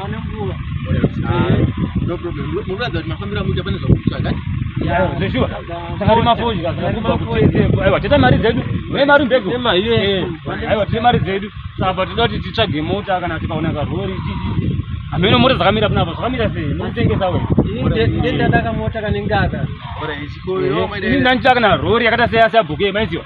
Pane nguva. No problem. Munoratidza kuti mafambira mucha pane zvakutsvaga. Yeah, zveshuwa. Saka rima fodya, saka rima fodya. Aiwa, teta mari dzedu. Mune mari mbego. Tema iye. Eh, aiwa, tete mari dzedu. Saka tinoda kuti titsvage mota kana tikaona karori. Ameno mota dzakamira pano apa, dzakamira sei? Murikutengesa wewe. Ini ndendadaka mota kanengaka. Ora ichikoyo. Ini ndanditaka na rori yakata seya seya bhuke, maiziwa.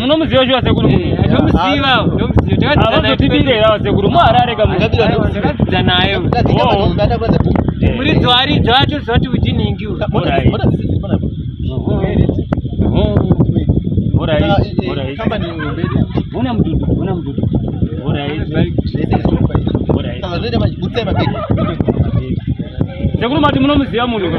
munomuziva shuwa sekuru ndomuzivaavazotibirerawo sekuru muharare kamuakadzidza naye muridzi waridzi wacho zoti uchinhingi Bona mdudu, bona mdudu. Bora hizi. Bora hizi. Sekuru mati munomuziva munhu.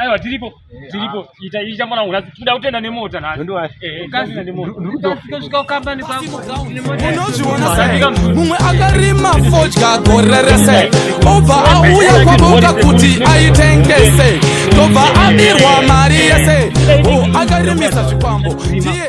aiwa tiripo tiripo ita ita mwana wangu nhasi tikuda kutenda nemota nhasiunozviona mumwe akarima fodya gore rese obva auya kwaboka kuti aitengese tobva abirwa mari yese akarimisa zvikwambo ndiye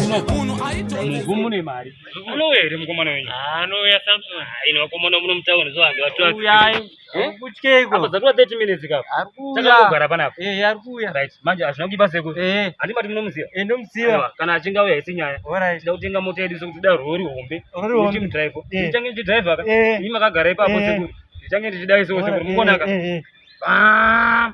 munhu mune mari anouya here mukomana wenyu anouya samson ino vakomana muno mutauni zovange vatuauyai Eh? Kutyeiko? Apa dzatova 30 minutes kapa. Arikuya. Takangogara panapa. Eh, arikuya. Right. Manje hazvina kuipa seku. Eh. Andi mati munomuziva. Eh, ndomuziva. Kana achinga uya isi nyaya. Alright. Tida kutenga mota yedu sokuti da rori hombe. Rori hombe. Ndi driver. Eh. Ndichange ndi driver ka. Eh. Ndima kagara ipapo eh. seku. Ndichange ndichidai seku seku. Mukonaka. Eh. Bam.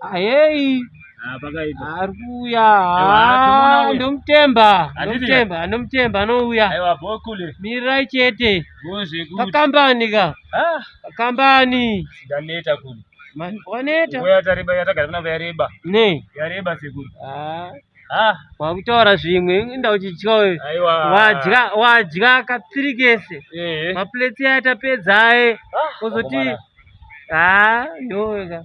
Ayei. Ah, pakaita. Ari kuuya. Ah, ndomutemba. Ndomutemba, ndomutemba anouya. Aiwa bokule. Mirai chete. Bozve kuti. Pakambani ka. Ah, pakambani. Ndaneta kule. Man, waneta. Uya tariba yatagara kuna yareba. Ne. Yareba sekuru. Ah. Ah, wakutaura zvimwe inda uchidya uyu. Aiwa. Wadya, wadya katsiri kese. Eh. Maplate atapedza aye. Ah, Ozoti. Ah, yoga.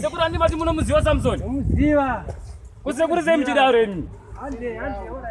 Sekuru andi mati munomuziva Samson? Muziva. Kusekuru sei muchidaro imi? Hande, hande, ora.